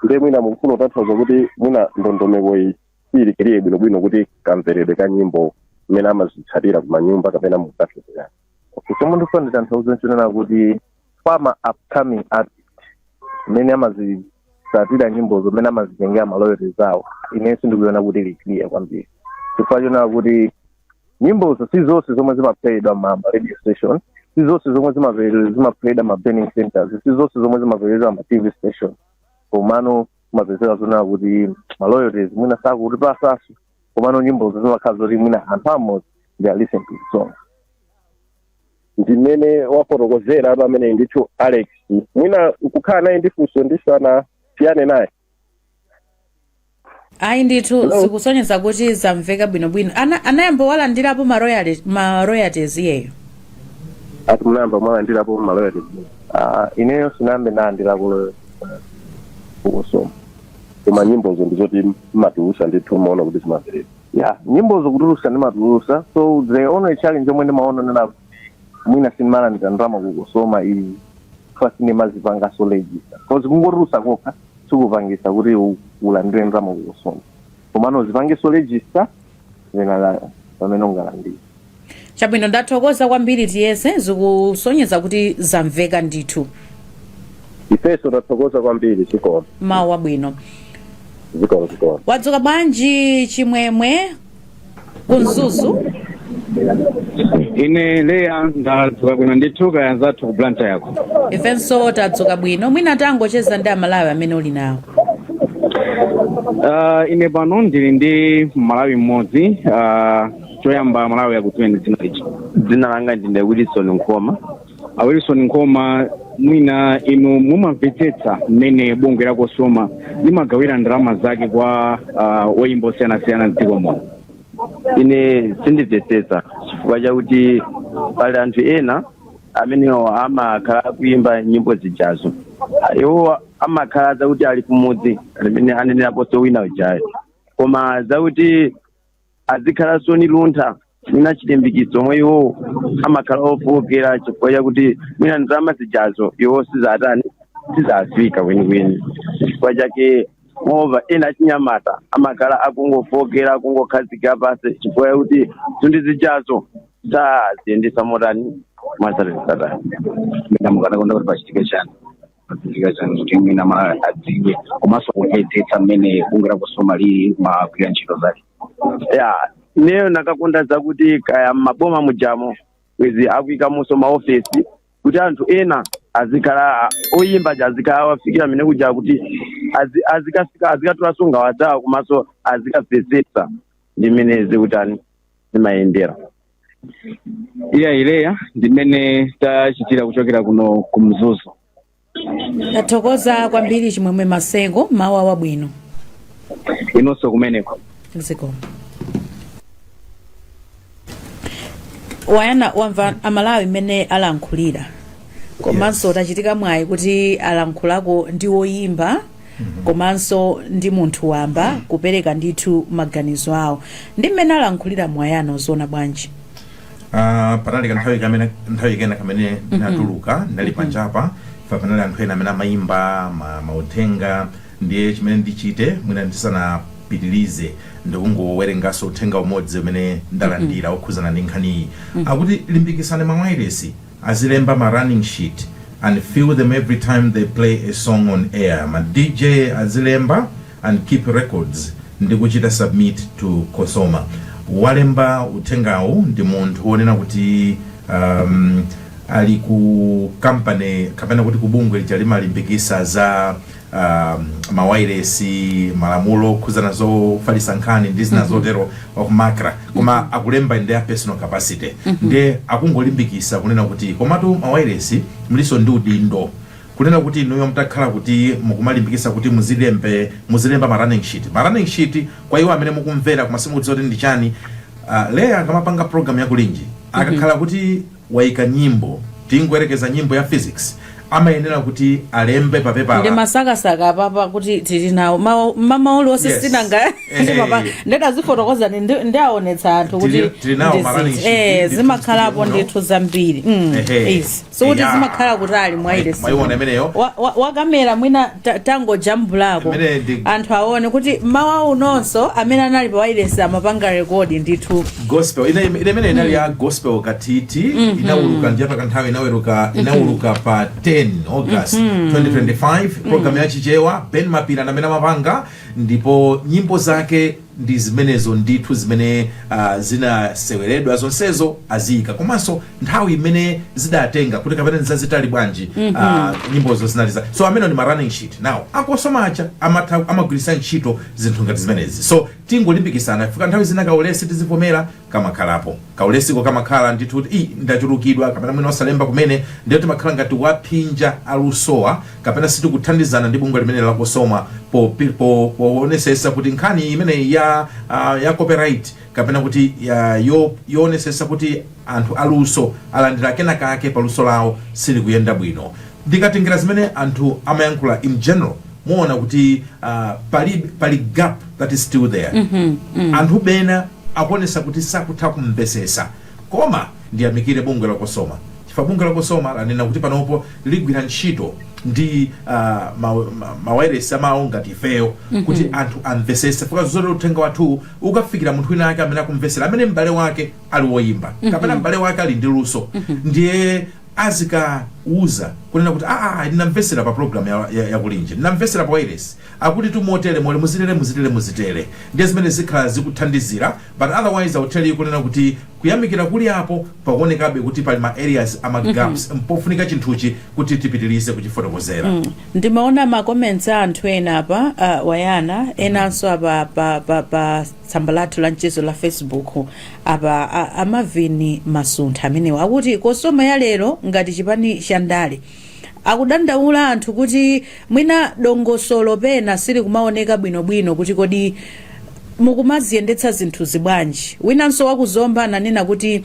ndiye mwina mukufuna kutanthauza kuti mwina ndondomeko iyi siili clear bwinobwino kuti kamveredwe ka nyimbo mmene amazitsatira kumanyumba kapena mukafekerani chomwe ndikufuna nditanthauze nchonena kuti for ma upcoming artist mmene amazitsatira nyimbozo mmene amazitengera ma royalties awo ine sindikuiona kuti ili clear kwambiri chifukwa chonena kuti nyimbozo si zonse zomwe zimaplayedwa ma ma radio station si zonse zomwe zimaplayedwa zimaplayedwa ma burning centers si zonse zomwe zimaplayedwa ma tv station komano kumapezeka zonena kuti ma royalties mwina sakutipatsanso komano nyimbozo zimakhala zoti mwina anthu amodzi they are listening to the song ndimene wafotokozera apa amene ndithu alex mwina nkukhala naye ndi funso tisanasiyane naye ayi ndithu Hello? zikusonyeza kuti zamveka bwinobwino Ana- anayamba walandirapo ma royali- ma royalties iyeyo ati munayamba mwalandirapo ma royalties ineyo sindinayambe ndalandirapo ku cosoma koma nyimbozo ndizoti mumatulutsa ndithu mumaona kuti zimamveredwa ya nyimbozo kutulutsa ndimatulutsa so the only challenge yomwe ndimaona nnati mwina sindimalandira ndalama ku cosoma ifa sindimazipangaso register cause kungotulutsa kokha sikupangitsa kuti u- ulandire ndalama ku cosoma komano uzipangeso register then ala- pamene ungalandire Chabwino, ndathokoza kwambiri tiyese zikusonyeza kuti zamveka ndithu. ifenso tathokoza kwambiri zikomo Mmawa wabwino. zikomo zikomo Wadzuka bwanji chimwemwe ku Mzuzu? ine leya ndadzuka bwino ndithu kaya anzathu ku blantyre ko Ifenso tadzuka bwino. Mwina tangocheza ndi amalawi amene uli nawo. uh, ine pano ndili ndi mmalawi mmodzi uh, choyamba amalawi akudziweni dzina lichi dzina langa ndine wilson nkhoma a wilson nkhoma mwina inu mumamvetsetsa mmene bungwe la cosoma limagawira ndalama zake kwa uh, oyimba osiyanasiyana mdziko muno ine sindimvetsetsa chifukwa chakuti pali anthu ena amenewo amakhala akuimba nyimbo zijazo iwo amakhala zakuti ali kumudzi mmene aneneraponso wina ujayo koma zakuti sazikhalanso ni luntha mwina chilimbikitso omwe iwowo amakhala ofookera chifukwa chakuti mwina ndalama zijazo iwo sizatani sizafika kwenikweni chifukwa chake mwaona ena achinyamata amakhala akungofookera akungokhazikika pansi chifukwa chakuti zinthu zijazo saziyendetsa motani mwazatani satani nde mukanakonda kuti pachitike chani pachitike chani kuti mwina Amalawi adziwe komanso kumvetsetsa mmene bungwe la Cosoma limagwira ntchito zake ya ineyo ndikanakonda zakuti kaya m'maboma mujamo izi akuikamonso maofesi kuti anthu ena azikhala oyimba aja azikhala awafikira mmene kuja kuti azi- azikafika azikatulanso nkhawa zawo komanso azikamvetsetsa ndi mmene zikutani zimayendera eya Leya ndi mmene tachitira kuchokera kuno ku mzuzu tathokoza kwambiri chimwemwe maseko mawu awabwino inonso kumeneko zikomo Wyna wamva amalawi mmene alankhulira komanso tachitika mwayi kuti alankhulako ndi woyimba komanso ndi munthu wamba kupereka ndithu maganizo awo ndi mmene alankhulira Wyna ukuziona bwanji Ah, panali kanthawi kamene nthawi kena kamene natuluka ndinali panjapa pa panali anthu ena amene amayimba ma- mauthenga ndiye chimene ndichite mwina ndisanapitilize ndikungowerenganso uthenga umodzi umene ndalandira okhuzana ndi nkhaniyi akuti limbikitsani mawayilesi azilemba ma running sheet and fill them every time they play a song on air, ma DJ azilemba and keep records ndi kuchita submit to Cosoma. Walemba uthengawu ndi munthu wonena kuti um, ali ku company kapena kuti ku bungwe lija limalimbikitsa za um, mawayilesi malamulo okhudzana zofalitsa nkhani ndi zina zotero a Macra koma akulemba in their personal capacity ndiye akungolimbikitsa kunena kuti komatu mawayilesi mulinso ndi udindo kunena kuti inuyo mutakhala kuti mukumalimbikitsa kuti muzilembe muzilemba ma running sheet ma running sheet kwa iwo amene mukumvera koma simukudziwa kuti ndi chani uh, leya akamapanga program ya Kulinji akakhala kuti waika nyimbo tingoyerekeza nyimbo ya Piksy amayenera kuti alembe pa pepala ndimasakasaka apapa kuti tili nawo Mawu- mama uli onse Yes. sinanga Eh. ndimapa ndadazifotokozani ndi- ndiawonetsa anthu kuti Tili- tili nawo ndi ma running zinthu. sheet, Eh, ndi zimakhalapo tili muno. ndithu zambiri Mm, Ehe. yes. sikuti Eya. zimakhala kutali mwaile Mwa- mwaiona imeneyo Wa- wa- wakamera mwina ta- tangojambulako Imene ndi- anthu aone kuti mmawa unonso amene anali pa wailesi amapanga rekodi ndithu gospel ina ina imene inali ya gospel katiti inauluka ndi apa ka nthawi inaweruka inauluka pa 10 august 2025 program ya chichewa ben mapira ndi amene amapanga ndipo nyimbo zake ndi zimenezo ndithu zimene ah, zinaseweredwa zonsezo aziyika komanso nthawi imene zidatenga kuti kapena nzazitali bwanji ah, nyimbozo zinali so amenewo ndi ma running sheet now a Cosoma aja amatha amagwiritsa ntchito zinthu ngati zimenezi so Tingolimbikisana chifukwa nthawi zina kaulesi tizivomera kamakhalapo. Kaulesiko kamakhala ndithu kuti ii ndachulukidwa kapena mwina osalemba kumene ndiye timakhala ngati tikuwaphinja alusowa kapena sitikuthandizana ndi bungwe limeneli la Cosoma po po poonesesa kuti nkhani imeneyi ya uh, ya copyright kapena kuti uh, yo yoonesesa kuti anthu aluso alandira kena kake pa luso lawo silikuyenda bwino. Ndikatengera zimene anthu amayankhula in general muona kuti uh, pali, pali gap that is still there mm -hmm, mm -hmm. anthu bena akuonesa kuti sakutha kumvesesa koma ndiyamikire bungwe la Cosoma chifukwa bungwe la Cosoma lanena kuti panopo ligwira ntchito ndi uh, mawayilesi ma, ma amawo ngati ifeyo mm -hmm. kuti anthu amvesese chifukwa zoona uthenga wathu ukafikira munthu wina ake amene akumvesera amene m'bale wake ali woyimba mm -hmm. kapena m'bale wake ali ndi luso mm -hmm. ndiye azikawauza kunena kuti aah ayi ndinamvesela pa program ya ya ya kulinje ndinamvesela pa wailesi akuti tumotere more muzitere muzitere muzitere ndiye zimene zikhala zikuthandizila but otherwise i will tell you kunena kuti kuyamikila kuli apo pakuonekabe kuti pali ma areas ama gaps pofunika chinthuchi kuti tipitilize kuchifotokozera ndimaona ma comments a anthu ena apa uh, wayana enanso apa pa, pa, pa tsamba lathu la mchezo la facebook apa a, a Marvin Masuntha amenewa akuti Cosoma ya lero ngati chipani cha ndale akudandaula anthu kuti mwina dongosolo pena sili kumaoneka bwinobwino kuti kodi mukumaziyendetsa zinthu zibwanji winanso wakuzomba ananena kuti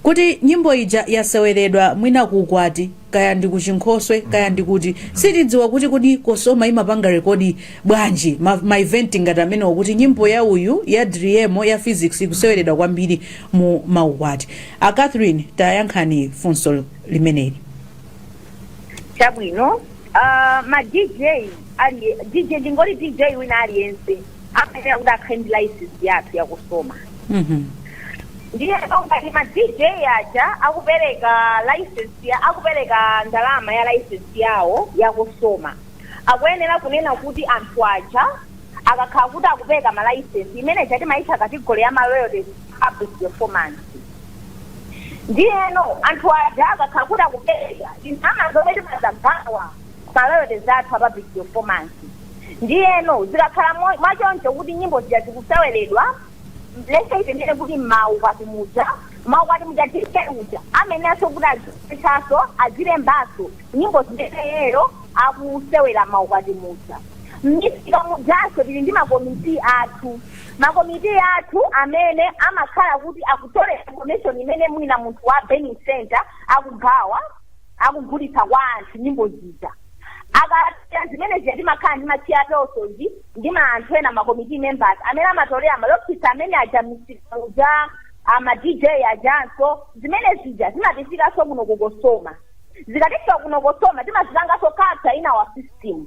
kuti nyimbo ija yaseweredwa mwina kukwati kaya ndi kuchinkhoswe kaya ndi kuti sitidziwa kuti kodi Cosoma imapanga rekodi bwanji ma, ma event ngati amenewo kuti nyimbo ya uyu ya Driemo ya Piksy ikuseweredwa kwambiri mu maukwati a Catherine tayankhani funso limeneli chabwino uh, ma dj ali dj ndingoti dj wina aliyense amayenera kuti akhale ndi license yathu ya Cosoma Mhm. ndiyeno ngati ma dj aja akupereka license ya akupereka ndalama ya license yawo ya Cosoma akuyenera kunena kuti anthu aja akakhala kuti akupereka ma license imene ija timaitcha kategori ya ma royalties public performance ndiyeno anthu aja akakhala kuti akupereka ndalama zomwe timadzagawa ma royalties athu a public performance ndiyeno zikakhala mo- mwachoncho kuti nyimbo zija zikuseweredwa let's say tinene kuti mmaukwati muja maukwati muja DJ uja ameneso kuti azithaso azilembaso nyimbo zimene iyeyo akusewera mmaukwati muja mmisika mujanso tili ndi makomiti athu makomiti athu amene amakhala kuti akutolera information imene mwina munthu wa burning center akugawa akugulitsa kwa anthu nyimbo zija akasiya zimene zija timakhala ndi ma chairpersons ndi ma anthu ena ma committee members amene amatolera ma log sheets amene aja misika uja ama dj ajanso zimene zija zimatifikanso kuno ku Cosoma zikatifika kuno Cosoma timazipanganso capture in our system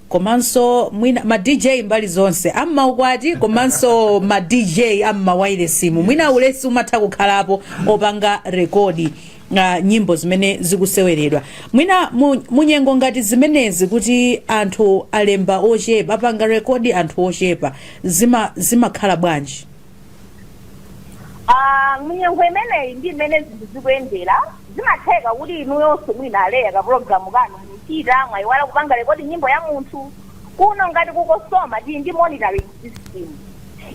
komanso mwina ma dj mbali zonse am'maukwati komanso ma dj am'mawailesimu mwina ulesi umatha kukhalapo opanga rekodi uh, nyimbo zimene zikuseweredwa mwina mu- munyengo ngati zimenezi kuti anthu alemba ochepa apanga rekodi anthu ochepa zima zimakhala bwanji Ah, munyengo imeneyi ndi mmene zinthu zikuyendera zimatheka kuti inuyonso mwina a Leah ka pulogalamu kanu muchita mwayiwala kupanga rekodi nyimbo ya munthu kuno ngati ku Cosoma tili ndi monitoring system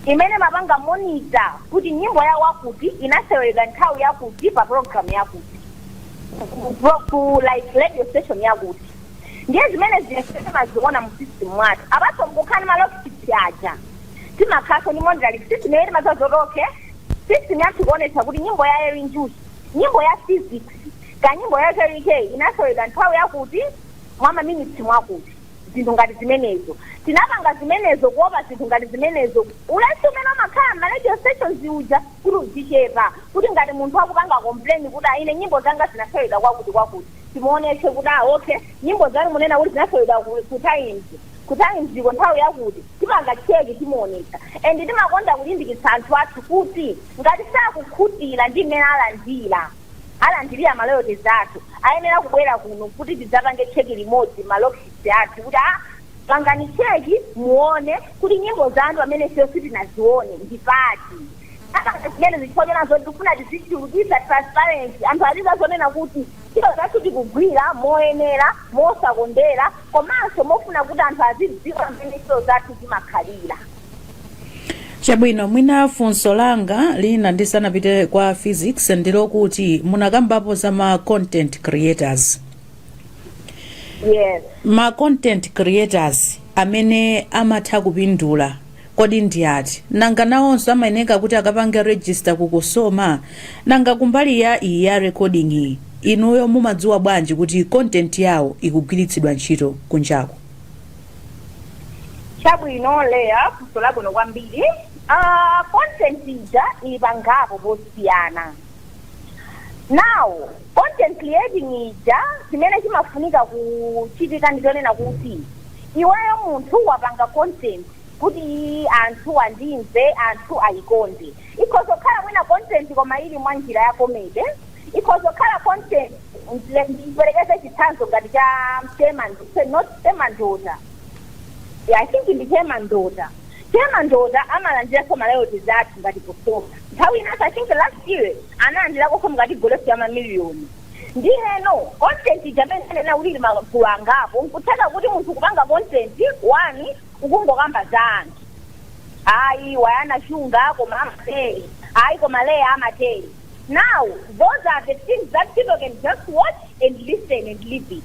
imene imapanga monitor kuti nyimbo ya wakuti inaseweredwa nthawi yakuti pa pulogalamu yakuti ku- ku- ku like radio station yakuti ndiye zimene zija timaziona mu system mwathu apart from kukhala ndi ma log sheets aja timakhalanso ndi monitoring system imene timadziwa zoti okay system yathu ikuonetsa kuti nyimbo ya Eli Njuchi nyimbo ya Phyzix kaya nyimbo ya Kell Kay inasewedwa nthawi yakuti mwa maminitsi mwakuti zinthu ngati zimenezo tinapanga zimenezo kuopa zinthu ngati zimenezo ulesi umene umakhala ma radio stations uja kuti uzichepa kuti ngati munthu akupanga complain kuti ah ine nyimbo zanga zinasewedwa kwakuti kwakuti timuonetse kuti ah okay nyimbo zanu munena kuti zinasewedwa ku- ku Times ku Times Dziko nthawi yakuti tipanga check timuonetsa and timakonda kulimbikitsa anthu athu kuti ngati sakukhutira ndi mmene alandira alandirira ma royalties athu ayenera kubwera kuno kuti tidzapange check limodzi ma log sheets athu kuti a pangani check muone kuti nyimbo zanu pamene ifeyo sitinazione ndi pati zimenezo chifukwa chonena zoti tikufuna tizichulukisa transparency anthu azidziwa zonena kuti Ntchito zathu tikugwira moyenera, mosakondera komanso mofuna kuti anthu azidziwa mmene ntchito zathu zimakhalira. Chabwino mwina funso langa lina ndisanapite kwa Phyzix ndilokuti munakambapo za ma content creators. Yes. Ma content creators amene amatha kupindula Kodi ndi ati? Nanga nawonso amayeneka kuti akapange register ku Cosoma? Nanga kumbali ya iyi ya recording yi, inuyo mumadziwa bwanji kuti content yawo ikugwiritsidwa ntchito kunjaku? Chabwino Leah, funso labwino kwambiri. Aaa content ija ili pangapo posiyana. Now, content creating ija chimene chimafunika kuchitika ndi chonena kuti iweyo munthu wapanga content, kuti anthu andimve anthu ayikonde ikhoza kukhala mwina content koma ili mwa njira ya comedy ikhoza kukhala content ndile- ndiperekeze chitsanzo ngati cha chemandota not chemandota yeah, i think ndi chemandota chemandota amalandiranso ma royalties athu ngati Cosoma nthawi inanso i think last year analandiranso mu category ya mamiliyoni ndiyeno content ija mmene anena kuti ili magulu angapo nkutheka kuti munthu kupanga content one ukungokamba za anthu ayi wayana chunga koma amatere ayi koma leya amatere now those are the things that people can just watch and listen and leave it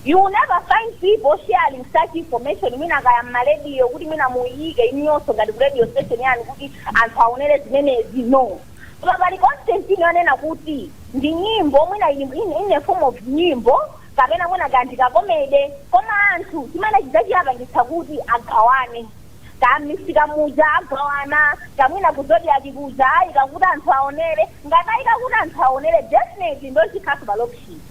you will never find people sharing such information mwina kaya mmalediyo kuti mwina muyike inuyonso ngati ku radio station yanu kuti anthu aonere zimenezi no koma pali content ina yonena kuti ndi nyimbo mwina in, in, in a form of nyimbo kapena mwina kaya ndi ka comedy koma anthu chimene chija chiwapangitsa kuti agawane kaya mmisika muja agawana kaya mwina ku zodiak kuja ayika kuti anthu aonere ngati ayika kuti anthu aonere definitely nde chikhalanso pa log sheet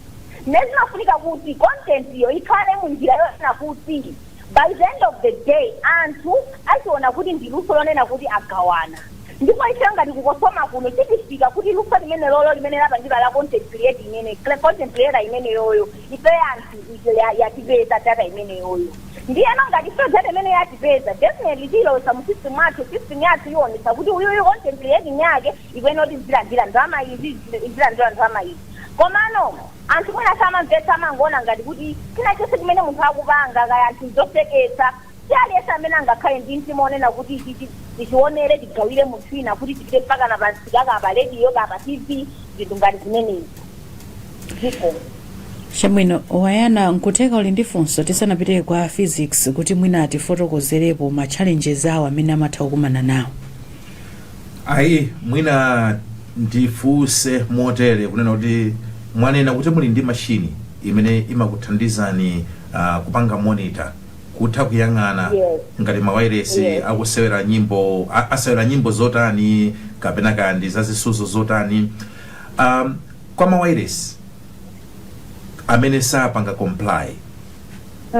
nde zimafunika kuti content yo ikhale mu njira yonena kuti By the end of the day anthu achiona kuti ndi luso lonena kuti agawana ndipo ifeyo ngati ku Cosoma kuno zitifika kuti luso limenelolo limene lapangidwa la content create imene content creator imeneyoyo ifeyo anthu ife ya- yatipeza data imeneyoyo ndiyeno ngati ifeyo data imene yatipeza definitely tiyilowesa mu system athu system yathu iwonesa kuti uyuyu content creating yake ikuyenera kuti izilandira ndalama izi izilandira ndalama izi komano Anthu mwina samamvetsa, amangoona ngati kuti chinachonse chimene munthu akupanga, kaya anthu, n'zoseketsa. Si aliyense amene angakhale ndi mtima wonena kuti, Ichichi tichionere, tigawire munthu wina, kuti tipite mpakana pa msika, kaya pa rediyo, kaya pa TV, zinthu ngati zimenezo. Zikomo. Chabwino, Wayana, nkutheka uli ndi funso tisanapite kwa a Phyzix kuti mwina atifotokozerepo ma challenges awo amene amatha kukumana nawo. ayi mwina ndifunse motere kunena kuti mwanena kuti muli ndi mashini imene imakuthandizani uh, kupanga monitor kutha kuyang'ana Yes. ngati mawairesi Yes. akusewera nyimbo a- asewera nyimbo zotani kapena kaya ndi za zisudzo zotani um, kwa mawairesi amene sapanga comply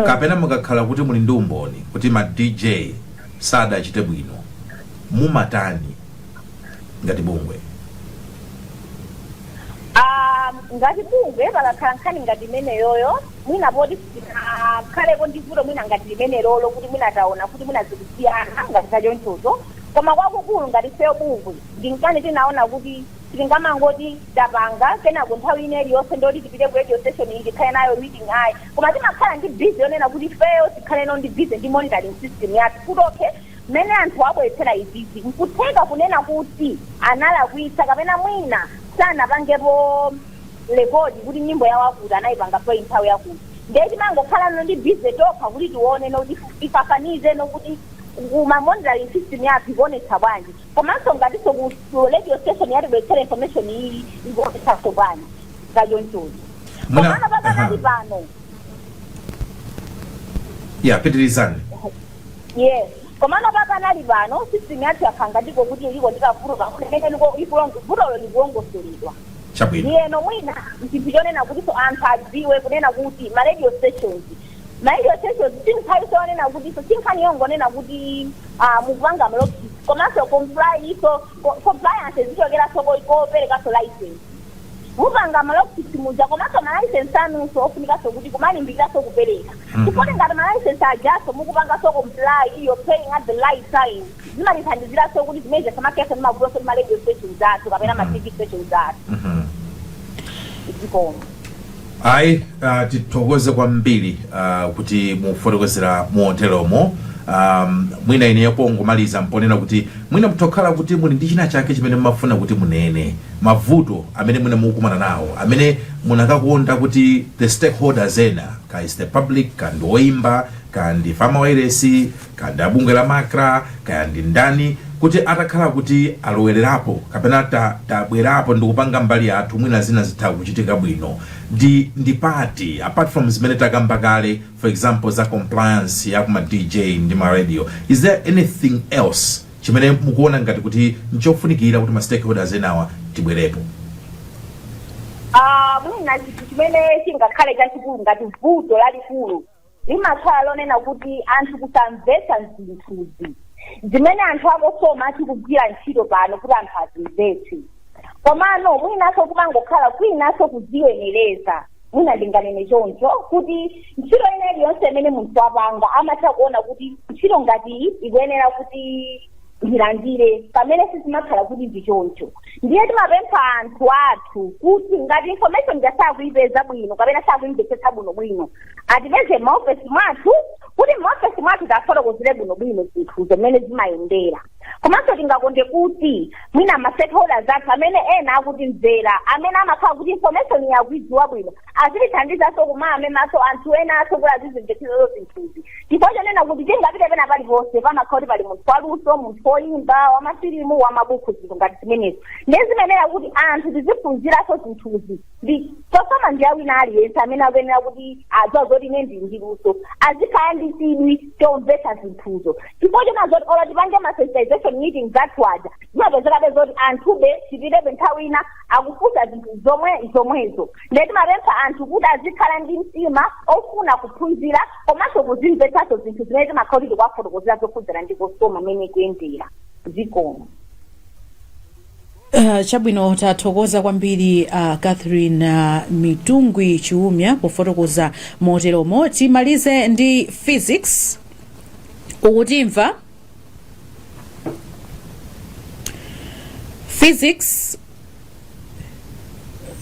kapena mukakhala kuti muli ndi umboni kuti ma dj sadachite bwino mumatani ngati bungwe Um, ngati bungwe pakakhala nkhani ngati imeneyoyo mwina poti sitinakhalepo ndi vuto mwina ngati limenelolo kuti mwina taona kuti mwina zikusiyana ngati zachonchozo koma kwakukulu ngati feyo bungwe ndi nkhani tinaona kuti tingamangoti tapanga kenako nthawi ina iliyonse ndoti tipite ku radio station iyi tikhale nayo meeting ayi koma timakhala ndi busy yonena kuti feyo tikhaleno ndi busy ndi monitoring system yathu kuti okay Mmene anthuwo abweretsera izizi, n'kutheka kunena kuti analakwitsa kapena mwina sanapangepo rekodi kuti nyimbo ya wakuti anaipanga play nthawi yakuti. Ndiye timangokhalano ndi busy tokha kuti tioneno kuti tifananizeno kuti ku ma monitoring system yathu ikuonetsa bwanji. Komanso ngatinso ku ku radio station yatibweretsera information iyi ikuonetsanso bwanji za chonchocho. Mwina- Komano aha. pakanali pano Yeah, pitirizani. Yes. Komano pakanali pano system yathu yakhala ngati ikoti iliko ndi kavuto pang'ono imene liko ikulong vutolo likulongosoledwa. Chabwino. Ndiyeno mwina chinthu chonena kutinso anthu adziwe kunena kuti ma radio stations ma radio stations si nkhaninso yonena kutinso si nkhani yongonena kuti ah, mukupanga ma log sheet komanso comply iso co- compliance zichokeranso ko- koperekanso license. mupanga ma log sheet muja komanso ma license anunso ofunikanso kuti kumalimbikiranso kupereka chifukwa kuti ngati ma license ajanso mukupanganso comply you're paying at the right time zimatithandiziranso kuti zimene zija zisamakhalenso ndi mavutonso ndi ma radio stations athu kapena ma TV stations athu zikomo. Ayi, ah, tithokoze kwambiri ah, kuti mwafotokozera moteromo. Um, mwina ineyo pongomaliza mponena kuti mwina mtokhala kuti muli ndi china chake chimene mumafuna kuti munene mavuto amene mwina mukukumana nawo amene munakakonda kuti the stakeholders ena kaya is the public kaya ndi oimba kaya ndi ife a mawailesi kaya ndi abungwe la MACRA kaya ndi ndani kuti atakhala kuti alowererapo kapena ta- tabwerapo ndikupanga mbali yathu mwina zina zitha kuchitika bwino ndi ndi pati apart from zimene takamba kale for example za compliance ya kuma dj ndi ma radio is there anything else chimene mukuona ngati kuti nchofunikira kuti ma stakeholders enawa tibwerepo Ah, mwina chinthu chimene chingakhale chachikulu ngati vuto lalikulu limakhala lonena kuti anthu kusamvetsa zinthuzi zimene anthu a COSOMA akugwira ntchito pano kuti anthu azimvetse komano mwinanso kumangokhala kwinanso kudziyenereza mwina ndinganene choncho kuti ntchito ina iliyonse imene munthu wapanga amatha kuona kuti ntchito ngati iyi ikuyenera kuti ndilandire pamene sizimakhala kuti ndi choncho ndiye timapempha anthu athu kuti ngati information ija sakuyipeza bwino kapena sakuyimvetsetsa bwino bwino atipeze m'maofesi mwathu kuti m'maofesi mwathu tiwafotokozere bwino bwino zinthu zimene zimayendera komanso tingakonde kuti mwina ma stakeholders athu amene ena akutimvera amene amakhala kuti information akuyidziwa bwino Azitithandizanso kumawamemanso anthu enanso kuti azizimvetseranso zinthuzi. Chifukwa chonena kuti tingapite pena paliponse pamakhala kuti pali munthu waluso, munthu woimba, wamafilimu, wamabuku zinthu ngati zimenezo. Ndiye zimayenera kuti anthu tiziphunziranso zinthuzi. Ndi Cosoma ndi ya wina aliyense amene akuyenera kuti akudziwa zoti ine ndili ndi luso. Azikhala ndi chidwi chomvetsa zinthuzo. Chifukwa chonena zoti olo tipange ma sensitization meetings athu aja, zimapezekabe zoti anthube tipitebe nthawi ina akufunsa zinthu zomwe zomwezo ndiye timapempha anthu kuti azikhala ndi mtima ofuna kuphunzira komanso kuzimvetsanso zinthu zimene timakhala kuti tikuwafotokozera zokhudzana ndi Cosoma mmene ikuyendera zikomo Uh, chabwino tathokoza kwambiri uh, catherine uh, mitungwi chiumya pofotokoza moteromo timalize ndi physics ukutimva physics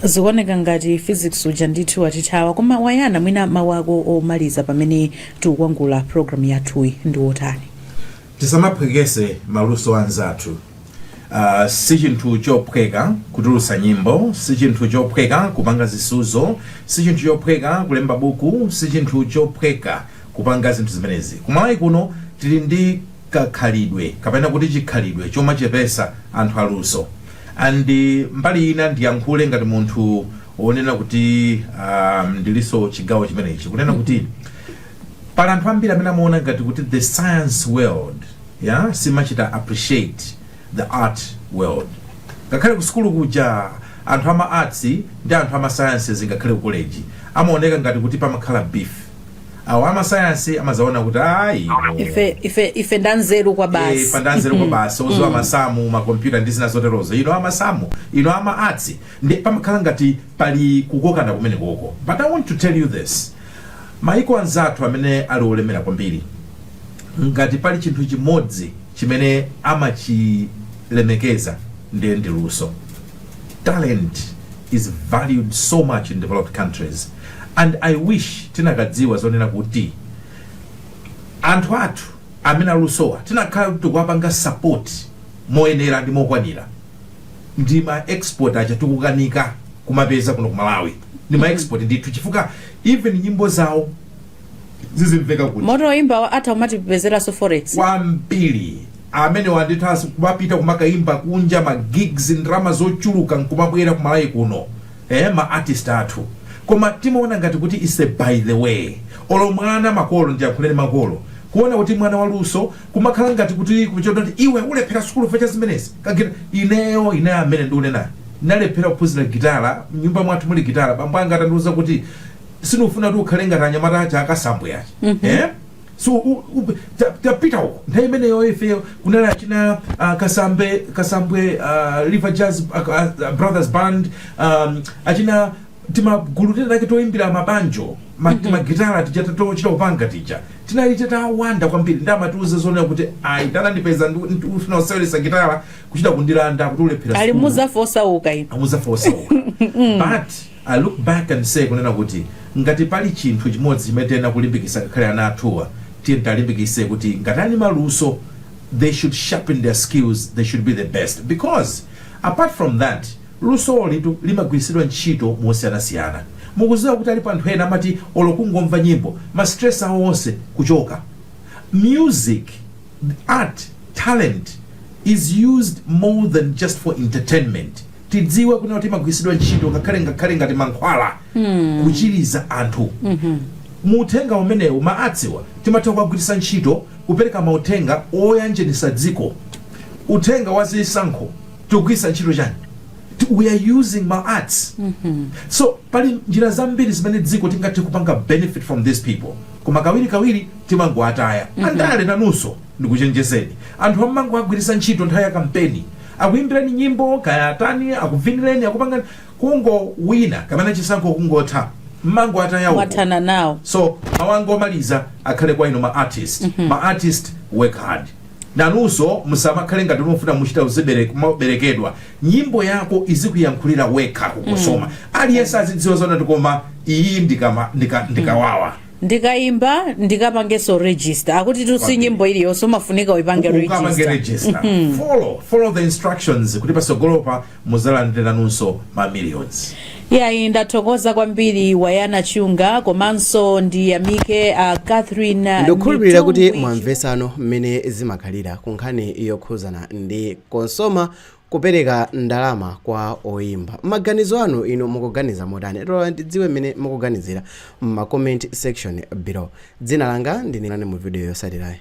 zikuoneka ngati physics uja ndithu watithawa koma wayana mwina mawu ako omaliza pamene tikukwangwanula programu yathuyi ndi wotani tisamaphwekese maluso anzathu uh, si chinthu chophweka kutulutsa nyimbo si chinthu chophweka kupanga zisuzo si chinthu chophweka kulemba buku si chinthu chophweka kupanga zinthu zimenezi. Ku Malawi kuno tili ndi kakhalidwe kapena kuti chikhalidwe chomachepesa anthu aluso and mbali ina ndiyankhule ngati munthu onena kuti um, ndiliso chigawo chimenechi kunena kuti pali anthu ambiri amene amaona ngati kuti the science world yeah, simachita appreciate the art world ngakhale ku sukulu kuja anthu ama arts ndi anthu ama sciences ngakhale ku college amaoneka ngati kuti pamakhala beef awa amasayansi amazaona kuti ayi no. ife ife ife ndanzeru kwa Eh, basi pandanzeru kwa basi oziwa masamu makompyuta ndi zina zoterozo ino amasamu ino ama arts ndi pamakhala ngati pali kukokana kumene koko but i want to tell you this maiko anzathu amene ali olemera kwambiri ngati pali chinthu chimodzi chimene amachilemekeza ndiye ndi luso talent is valued so much in developed countries and i wish tinakadziwa zonena kuti anthu athu amene alusowa tinakhala kuti tikuwapanga support moyenera ndi mokwanira ndi ma export aja tikukanika kumapeza kuno ku malawi ndi ma export ndithu chifukwa even nyimbo zawo zizimveka kuti moto oyimbawo atha kumatipezeranso forex kwambiri amene wandithu aziti kumapita kumakayimba kunja ma gigs ndalama zochuluka nkumabwera ku Malawi kuno eh, ma artist athu koma timaona ngati kuti is a by the way olo mwana makolo ndiyankhuleni makolo kuona kuti mwana waluso kumakhala ngati kuti kuchota kuti iwe ulephera sukulu fecha zimenezi kagitala ineyo ine amene ndiunenayo ndinalephera kuphunzira gitala mnyumba mwathu muli gitala bambo anga atandiuza kuti sindikufuna kuti ukhale ngati anyamata aja akasambwe aja eh? so u- u- ta- tapita uko nthawi imeneyo ifeyo kunali achina ah, kasambe kasambwe ah, river jazz ah, ah, brothers band um, achina timagulu tinatake toyimbira mabanjo ma- timagitara tija tochita kupanga tija tinali titawanda kwambiri ndi amatiuza zonena kuti ayi atandipeza ndifuna kuseweretsa gitara kuchita kundilanda kuti ulephera ali sukulu. muzafa osauka inu amuzafa osauka but I look back and say kunena kuti ngati pali chinthu chimodzi chimene tiyenera kulimbikisa ngakhale ana athuwa tiyeni tiwalimbikise kuti ngati ali ndi maluso they should sharpen their skills they should be the best because apart from that lusolitu limagwirisidwa ntchito mosiyanasiyana mukuziwa kuti alipo anthu ena amati olo kungomva nyimbo ma stress awo onse kuchoka music art talent is used more than just for entertainment. tidziwe kunena kuti imagwiritsidwa ntchito ngakhale ngakhale ngati mankhwala kuchiriza anthu mu uthenga umenewu ma arts-wa timatha kuwagwiritsa ntchito kupereka mauthenga oyanjanisa dziko uthenga wa zisankho tikugwiritsa ntchito chani Ti- we are using ma arts so pali njira zambiri zimene dziko tingathe kupanga benefit from these people koma kawirikawiri timangoataya andale nanunso ndikuchenjezeni anthu amangowagwiritsa ntchito nthawi ya kampeni Akuyimbireni nyimbo kaya atani akuvinireni akupangani kungowina kapena chisankho kungotha mmangowataya uko Mwathana nawo. so mawu anga omaliza akhale kwa inu ma artist ma artist work hard nanunso musamakhale ngati mufuna muchita uzibere- kumaberekedwa nyimbo yako izikuyankhulira wekha ku Cosoma aliyense azidziwa zonena kuti koma iyi ndikama- ndika- ndikawawa ndikaimba ndikapangenso register akuti tu si nyimbo iliyonse umafunika uipange ukapange register register follow follow the instructions kuti pasogolopa muzalandiranunso ma millions yayi ndathokoza kwambiri wayana chunga komanso ndiyamike a catherine ndikukhulupirira kuti mwamva tsopano mmene zimakhalira ku nkhani yokhuzana ndi Cosoma kupereka ndalama kwa oyimba. Mmaganizo anu inu mukuganiza motani? Tiloleni tidziwe mmene mukuganizira m'ma comment section below. Dzina langa ndine. Onani mu video yotsatirayi.